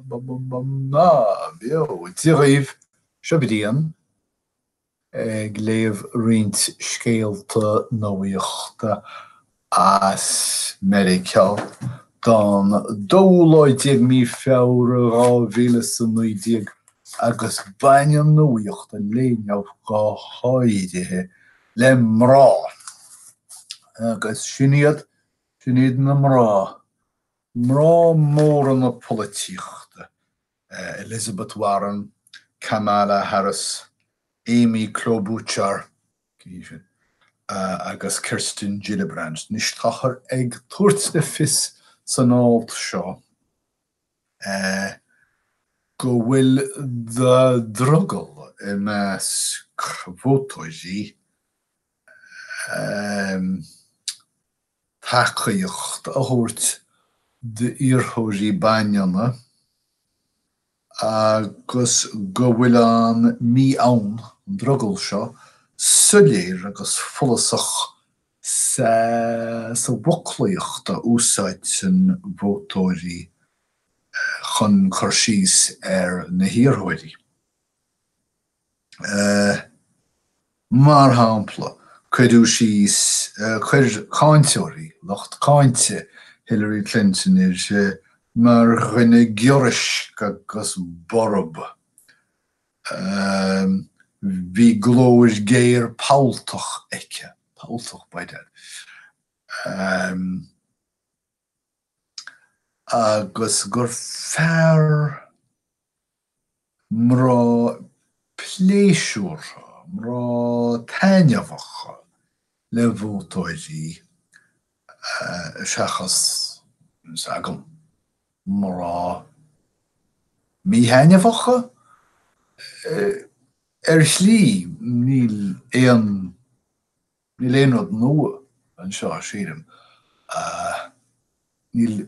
Móra dhaoibh, seo Brian ag léamh roinnt scéalta nuachta as Meiriceá don 12ú Mí Feabhra 2019 agus baineann nuacht an lae inniu go háirithe le mná agus sin iad Sin iad na mná, mná móra na polaitíochta, Elizabeth Warren, Kamala Harris, Amy Klobuchar agus Kirsten Gillibrand. Anois, táthar ag tabhairt le fios san alt seo go bhfuil drogall i measc vótóirí, tacaíocht a thabhairt d'iarrthóirí baineanna agus go bhfuil an ní, an, an drogall seo, soiléir agus follasach sa bhfoclaíocht a úsáidteann vótóirí chun cur síos ar na hiarrthóirí. Mar shampla, cuireadh síos, chuir cáinteoirí, lucht cáinte Hillary Clinton í mar dhuine giorraisc agus borb. Bhí glór géar polltach aici, polltach b'fhéidir, agus gur fearr. mná pléisiúrtha, mná taitneamhacha le vótóirí seachas, tá's agam, mná míthaitneamhacha? Ar shlí, níl aon. Níl aon rud nua anseo, sílim. Níl,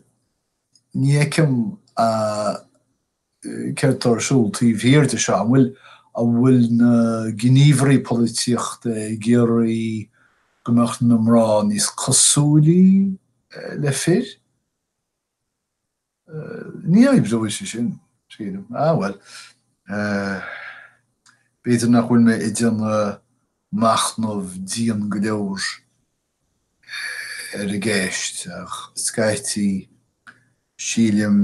ní fheicim céard atá ar siúl taobh thiar de seo. An bhfuil, an bhfuil na gníomhairí polaitíochta ag iarraidh go mbeadh na mná níos cosúilí le fir? Ní oibreoidh sé sin, sílim. Ah bhuel. B'fhéidir nach bhfuil mé ag déanamh machnamh dian go leor ar an gceist ach scaití sílim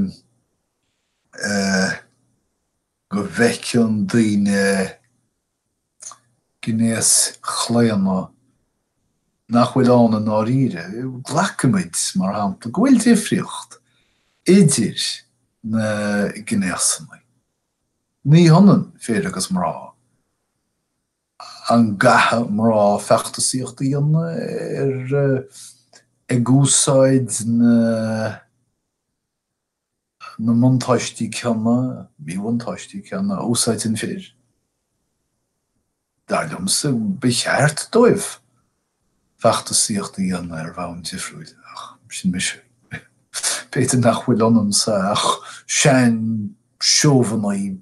go bhfeiceann daoine gnéaschlaonadh nach bhfuil ann i ndáiríre. Glacaimid, mar shampla, go bhfuil difríocht idir na gnéasanna. Ní hionann fir agus mná. An gcaithfidh mná feachtasaíocht a dhéanamh ag úsáid na. na mbuntáistí céanna, míbhuntáistí céanna, a úsáideann fir, dar liomsa, ba cheart dóibh feachtasaíocht a dhéanamh ar bhonn difriúil, ach sin mise. B'fhéidir nach bhfuil ionamsa ach seanseobhaineach.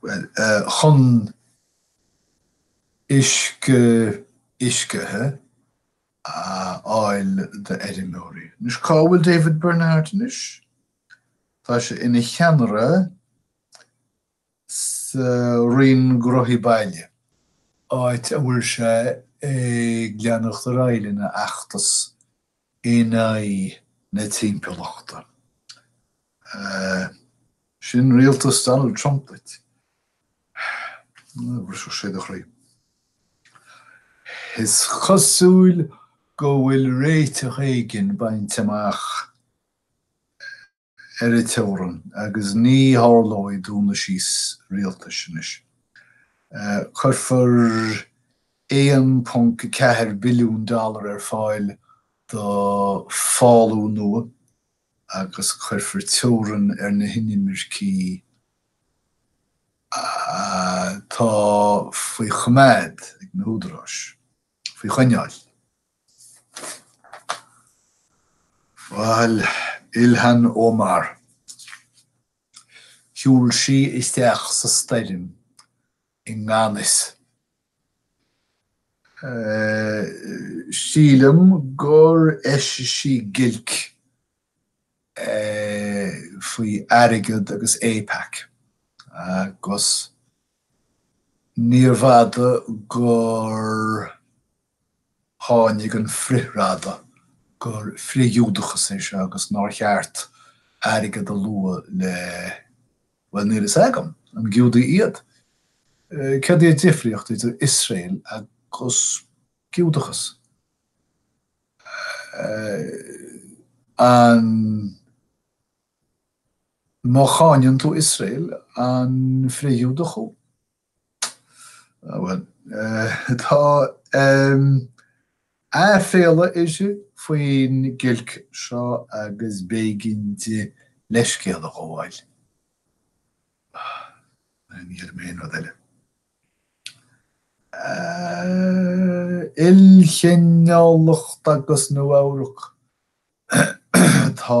Bhuel, chun uisce uiscithe a fháil d'fheirmeoirí. Anois, cá bhfuil David Bernhardt anois? Tá sé ina cheannaire sa Roinn Gnóthaí Baile, áit a bhfuil sé ag leanacht ar aghaidh lena fheachtas in aghaidh na timpeallachta. Sin rialtas Donald Trump duit. Bhrisfeadh sé do chroí. Is cosúil go bhfuil réiteach éigin bainte amach ar an teorainn agus ní tharlóidh dúnadh síos rialtais anois. Cuirfear 1.4 billiún dollar ar fáil do fhálú nua agus cuirfear teorainn ar na hinimircigh atá faoi choimeád ag na húdaráis, faoi choinneáil. Bhuel, Ilhan Omar. Shiúil sí isteach sa stoirm i ngan fhios. Sílim gur eisigh sí giolc faoi airgead agus AIPAC agus níorbh fhada gur. Tháinig an frithradadh gur frith-Ghiúdachas é seo agus nár cheart airgead a lua le, bhuel, níl fhios agam, an Giúdaigh iad? Cad é an difríocht idir Iosrael agus Giúdachas? An má cháineann tú Iosrael, an frith-Ghiúdach thú? Bhuel, tá aiféala uirthi faoin giolc seo agus b'éigean di leithscéal a ghabháil. Ní dhéarfaidh mé aon rud eile. Ilchineálacht agus Nua-Eabhrac. Tá.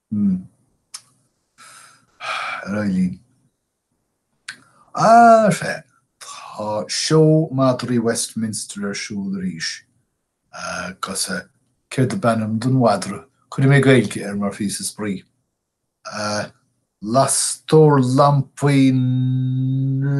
Hmm. Ar aghaidh linn. Faith. Tá seó madraí Westminster ar siúl arís. Agus céard ab ainm don mhadra? Cuirfidh mé Gaeilge air mar phíosa spraoi. Lastóir Lampaí na.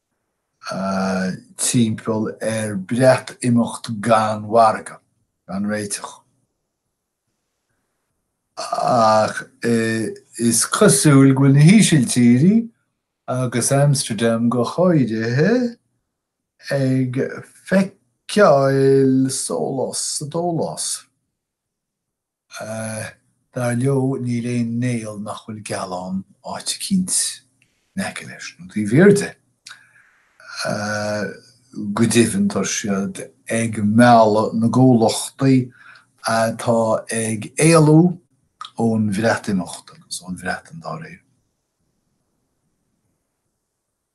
timpeall ar Breatimeacht gan mhargadh, gan réiteach. Ach is cosúil go bhfuil na hÍsiltírí, agus Amsterdam go háirithe, ag feiceáil sólás sa dólás. Dar leo, níl aon néal nach bhfuil gealán áit eicínt in aice leis nó taobh thiar de. Go deimhin, tá siad ag mealladh na gcomhluchtaí atá ag éalú ón Bhreatimeacht, agus ón Bhreatain dá réir.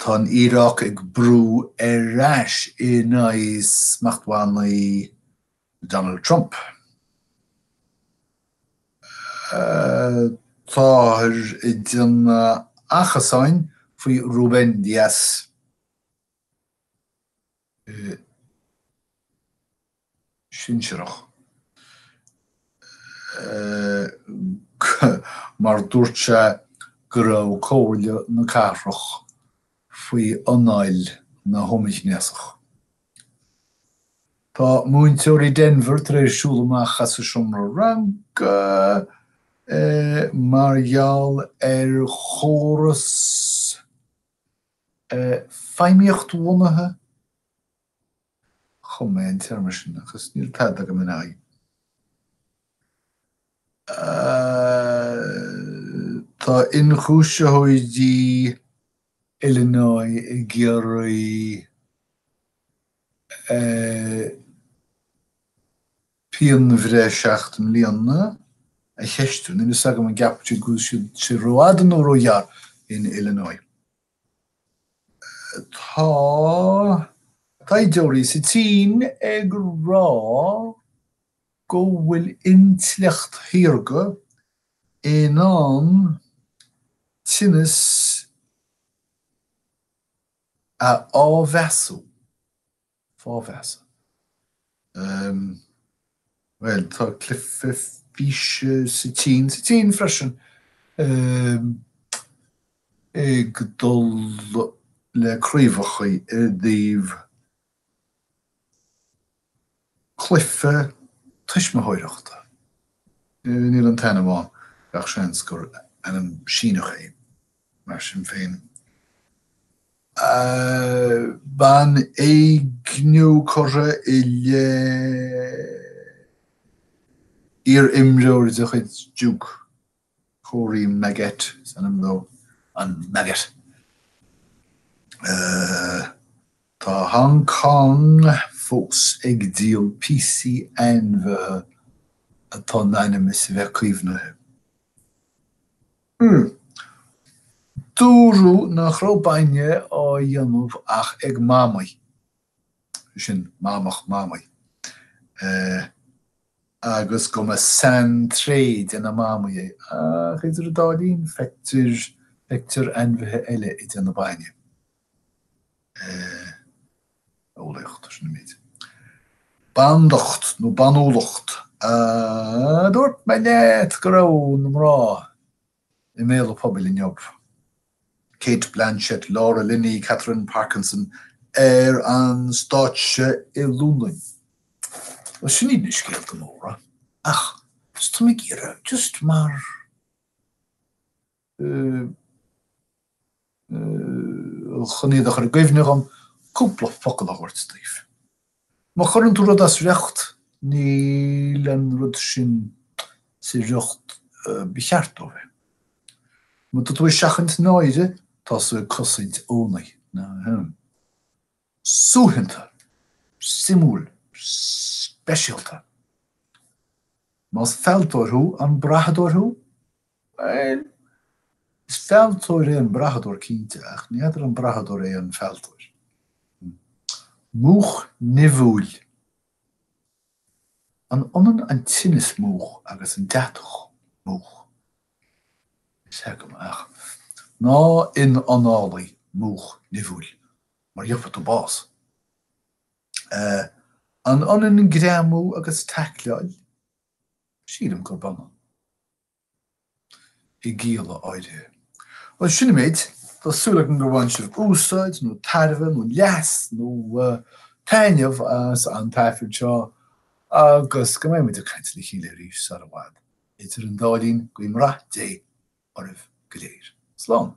Tá an Iaráic ag brú ar ais in aghaidh smachtbhannaí Donald Trump. Táthar i ndon achasáin faoi Rubén Díaz. sinsearach. mar dúirt sé go raibh Comhairle na Cathrach faoi anáil na homaighnéasach. Tá múinteoirí Denver tar éis siúl amach as a seomra ranga mar gheall ar chóras feidhmíochtbhunaithe. Chum mé an téarma sin agus níl tada agam ina aghaidh. Tá ionchúisitheoirí Illinois ag iarraidh. pianbhreith seacht mbliana, a cheistiú. Níl fhios agam an gceapfadh siad go bhfuil sé rófhada nó róghearr in Illinois. Tá taighdeoirí sa tSín ag rá go bhfuil intleacht shaorga in ann tinneas a fháthmheasú. fáthmheasa. Bhuel, tá cluife físe sa tSín, sa tSín freisin, ag dul le craobhacha i dtaobh cluife tuismitheoireachta. Níl an t-ainm ann, gach seans gur ainm Síneach é. Mar sin féin, banéigniú curtha i leith iar-imreoir de chuid Duke, Corey Maggette is ainm dó, an Maggot. Tá Hong Cong fós ag díol píosaí ainmhithe atá in ainm is a bheith caomhnaithe. Hmm. Dúradh nach raibh bainne á dhéanamh ach ag mamaigh, sin mamach mamaigh, eh, agus go mba saintréith de na mamaigh é, ach idir an dá linn, feictear, feictear ainmhithe eile ag déanamh bainne. eolaíocht, sin an méid. Bandacht nó banúlacht, Dúirt mé leat go raibh na mná i mbéal an phobail inniu. Cate Blanchett, Laura Linney, Katherine Parkinson ar an stáitse i Londain. Bhuel, sin iad na scéalta móra, ach tá mé ag iarraidh just mar chun iad a chur i gcuimhne dhom, cúpla focal a thabhairt daoibh. Má chuireann tú rud as riocht, níl an rud sin sa riocht ba cheart dó bheith. Má tá tú ag seachaint náire, tá tú ag cosaint oinigh. Suaitheanta, suimiúil, speisialta. Más fealltóir thú, an brathadóir thú? Bhuel. is fealltóir é an brathadóir cinnte, ach ní fheadar an brathadóir é an fealltóir. Múch nimhiúil. An ionann an tinneas múch agus an deatach múch? Is ea go maith. Ná ionanálaigh múch nimhiúil. mar gheobhtha tú bás. An ionann greamú agus taicleáil? Sílim gurb ionann. i gcialla áirithe. Bhuel, sin an méid. Tá súil agam gur bhain sibh úsáid, nó tairbhe, nó leas, nó taitneamh as an taifead seo, agus go mbeidh muid ag caint le chéile arís sar i bhfad. Idir an dá linn, guím rath Dé oraibh go léir. Slán.